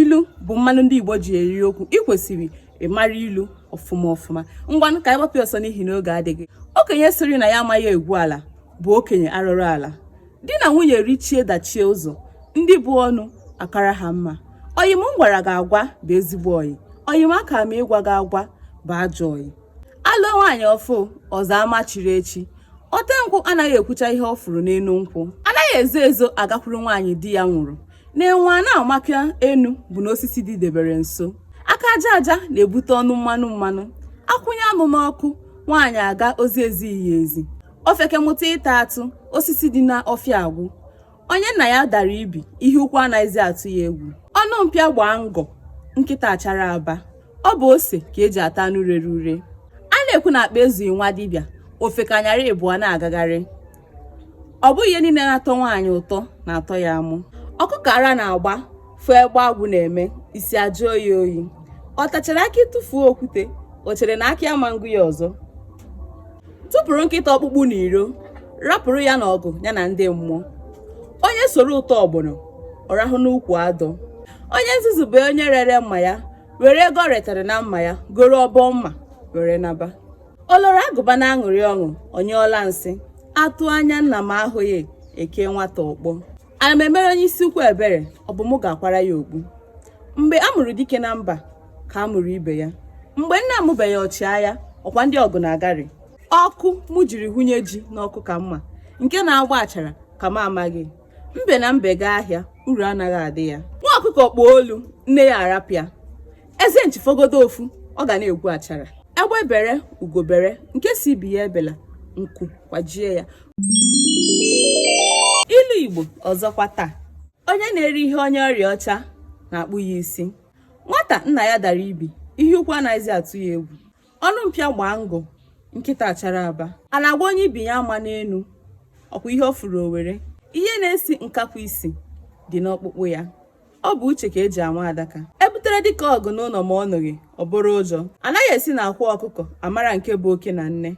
ilu bụ mmanụ ndị Igbo ji eri okwu ị kwesịrị ịmara ilu ọfụma ọfụma ngwanụ ka anyị gbapụ ọsọ n'ihi na oge adịghị okenye sịrị na ya amaghị egwu ala bụ okenye arụrụ ala di na nwunye richie dachie ụzọ ndị bu ọnụ akara ha mma ọyị m gwara gị agwa bụ ezigbo ọyị ọyị m aka m ịgwa gị agwa bụ ajọ ọyị alụọ nwaanyị ọ fụ ụzọ ama chiri echi ote nkwụ anaghị ekwucha ihe ọ fụrụ n'elu nkwụ anaghị ezo ezo agakwuru nwaanyị di ya nwụrụ na enwe a na-amaka enu bụ na osisi dịdebere nso aka aja aja na-ebute ọnụ mmanụ mmanụ akwụnye anụ n'ọkụ nwaanyị aga ozi ezighị ya ezi ofeke mụta ịta atụ osisi dị n'ọfịa agwụ onye nna ya dara ibi ihe ukwu anaghịzi atụ ya egwu ọnụ mpịa gbaa ngọ nkịta achara aba ọ bụ ose ka eji ata anụ rere ure a na-ekwu na akpa ezughị nwa dibịa ofeke anyara ịbụọ na-agagharị ọ bụghị ihe niile na-atọ nwaanyị ụtọ na-atọ ya amụ ọkụkọ ara na-agba fụ egbe agwụ na-eme isi ajụọ ya oyi ọ tachara akị tụfuo okwute o chere na akị ama ngụ ya ọzọ tụpụrụ nkịta ọkpụkpụ n'iro rapụrụ ya na ọgụ ya na ndị mmụọ onye soro ụtọ ọgbọnọ ọ rahụ n'ukwu adọ onye nzuzu bụ onye rere mma ya were ego o retara na mma ya goro ọbọ mma were naba o loro agụba na-aṅụrị ọṅụ ọ nyụọla nsị atụ anya nna ma ahụghị ekee nwata ọkpọ ana m emere onye isi ukwu ebere ọ bụ mụ ga-akwara ya okpu mgbe a mụrụ dike na mba ka a mụrụ ibe ya mgbe nna amụbeghị ọchịagha ọkwa ndị ọgụ na-agarị ọkụ mụ jiri hụnye ji n'ọkụ ka m ma nke na-agba achara ka m amaghị mbe na mbe gaa ahịa uru anaghị adị ya nwa ọkụkọ kpọọ olu nne ya arapụ ya eze nchi fọgodu ofu ọ ga na-egbu achara egbe bere ugo bere nke sị ibe ya ebela nku kwajie ya ilu igbo ọzọkwa taa onye na-eri ihe onye ọrịa ọcha na-akpụ ya isi nwata nna ya dara ibi ihe ukwu anaghịzi atụ ya egwu ọnụ mpịa gbaa ngọ nkịta achara aba a na-agwa onye ibi ya amana enu ọkwa ihe ọ fụrụ o were ihe na-esi nkakwụ isi dị n'ọkpụkpụ ya ọ bụ uche ka eji anwụ adaka ebutere dike ọgụ n'ụlọ ma ọ nụghị ọ bụrụ ụjọ anaghị esi na akwa ọkụkọ amara nke bụ oke na nne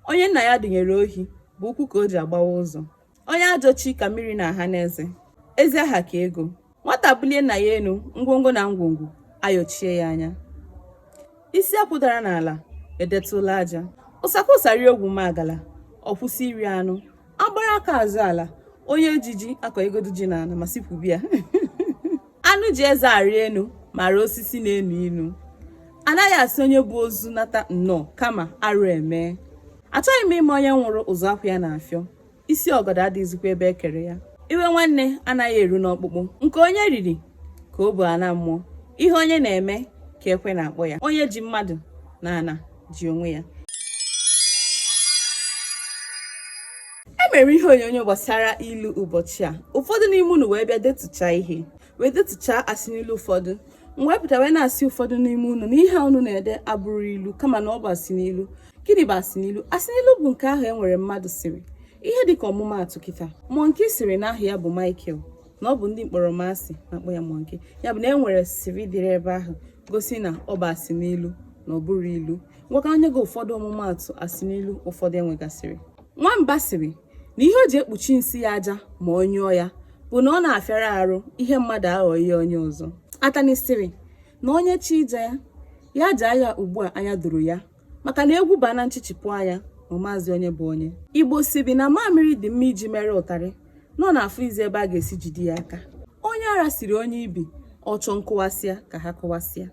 onye nna ya dunyere ohi bụ ụkwụ ka o ji agbawa ụzọ onye ajọ chi ka mmiri na-aha n'eze ezi aha ka ego nwata bulie nna ya enu ngwongwo na ngwongwo ayọchie ya anya isi akwụ dara n'ala edetụla aja ụsa kwọ ụsa rie ọgwụ magala ọ kwụsị iri anụ agbara aka azọ ala onye ji ji akọyegodu ji n'ala ma sị kwubie ya anụ ji eze arị enu mara osisi na-enu inu anaghị asị onye bu ozu nata nnọọ kama arụ emee achọghị m ịma onye nwụrụ ụzọ akwa ya na-afịọ isi ọgọdọ adịghịzikwa ebe e kere ya iwe nwanne anaghị eru n'ọkpụkpụ nke onye riri ka o bu ana mmụọ ihe onye na-eme ka ekwe na-akpọ ya onye ji mmadụ n'ana ji onwe ya e mere ihe onyonyo gbasara ilu ụbọchị a ụfọdụ n'ime unu wee bịa detụcha ihe wee detụcha asị n'ilu ụfọdụ m wee pụta wee na-asị ụfọdụ n'ime unu na ihe a unu na-ede abụrọ ilu kama na ọ bụ asị n'ilu gịnị bụ asị n'ilu asị n'ilu bụ nke ahụ e nwere mmadụ sịrị ihe dịka ọmụmaatụ kịta monkey sịrị na aha ya bụ Michael na ọ bụ ndị mkpọrọmasị na-akpọ ya monkey ya bụ na e nwere sịrị dịrị ebe ahụ gosi na ọ bụ asị n'ilu na ọ bụrọ ilu ngwa ka m nye gị ụfọdụ ọmụmaatụ asị n'ilu ụfọdụ e nwegasịrị nwamba sịrị na ihe o ji ekpuchi nsị ya aja ma ọ nyụọ ya bụ na ọ na-afịara arụ ihe mmadụ aghọọ ihe onye ọzọ atani sịrị na onye chọọ ịja ya ya jaa ya ugbu a anya doro ya maka na egwu baa na nchichipụ anya ma amazi onye bụ onye Igbo sịrị na mamịrị dị mma iji mere ụtarị na ọ na-afọzi ebe a ga-esi jide ya aka onye ara sịrị onye ibi ọ chọọ nkụwasịa ka ha kụwasịa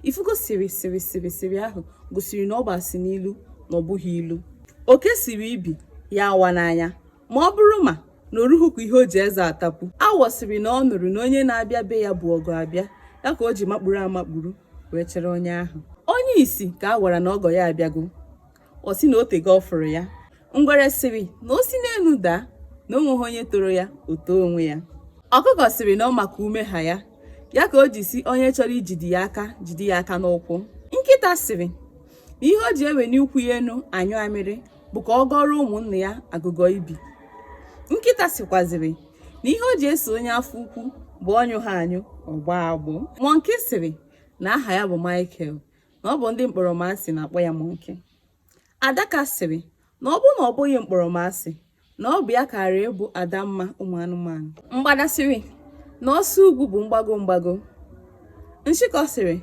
ị fụgo sịrị sịrị sịrị sịrị ahụ gosiri na ọ bụ asị n'ilu na ọ bụghị ilu oke sịrị ibi ya awana anya ma ọ bụrụ ma na o ruhukwa ihe o ji eze atapụ awọ sịrị na ọ nụrụ na onye na-abịa be ya bụ ọgọ abịa ya ka o ji makpuru amakpuru wee chere onye ahụ onye isi ka a gwara na ọgọ ya abịago ọ sị na o tego ọ fụrụ ya ngwere sịrị na o si n'elu daa na o nweghị onye toro ya o too onwe ya ọkụkọ sịrị na ọ ma ka ume ha ya ya ka o ji sị onye chọrọ ijide ya aka jide ya aka n'ụkwụ nkịta sịrị na ihe o ji eweni ụkwụ ya enu anyụ amịrị bụ ka ọ gọọrọ ụmụnna ya agụgọ ibi nkịta sịkwazịrị na ihe o ji eso onye afọ ukwu bụ ọ nyụghị anyụ ọ gbọọ agbọ monkey sịrị na aha ya bụ Michael na ọ bụ ndị mkpọrọmasị na-akpọ ya monkey adaka sịrị na ọ bụrụ na ọ bụghị mkpọrọmasị na ọ bụ ya kara abụ adamma ụmụ anụmanụ mgbada sịrị na ọsọ ugwu bụ mgbago mgbago nshịkọ sịrị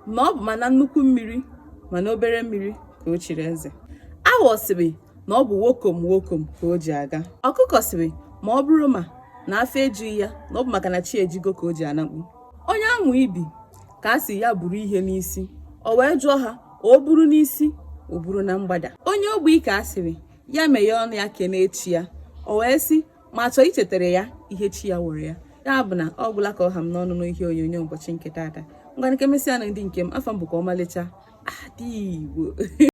na ọ bụ ma na nnukwu mmiri ma na obere mmiri ka o chiri eze awọ sịrị na ọ bụ wokom wokom ka o ji aga ọkụkọ sịrị ma ọ bụrụ ma na afọ ejughị ya na ọ bụ maka na chi ejigo ka o ji anakpu onye amụ ibi ka a sịrị ya buru ihe n'isi o wee jụọ ha o buru n'isi o buru na mgbada onye ogbi ka a sịrị ya meghee ọnụ ya kene chi ya o wee sị ma a chọọ ichetara ya ihe chi ya mere ya ya bụ na ọ gwụla ka ọ ha m n'ọnụ n'ihe onyonyo ụbọchị nke taata ngwa ka e mesịa nụ ndị nke m afa m bụkwa ọmalịcha ada Igbo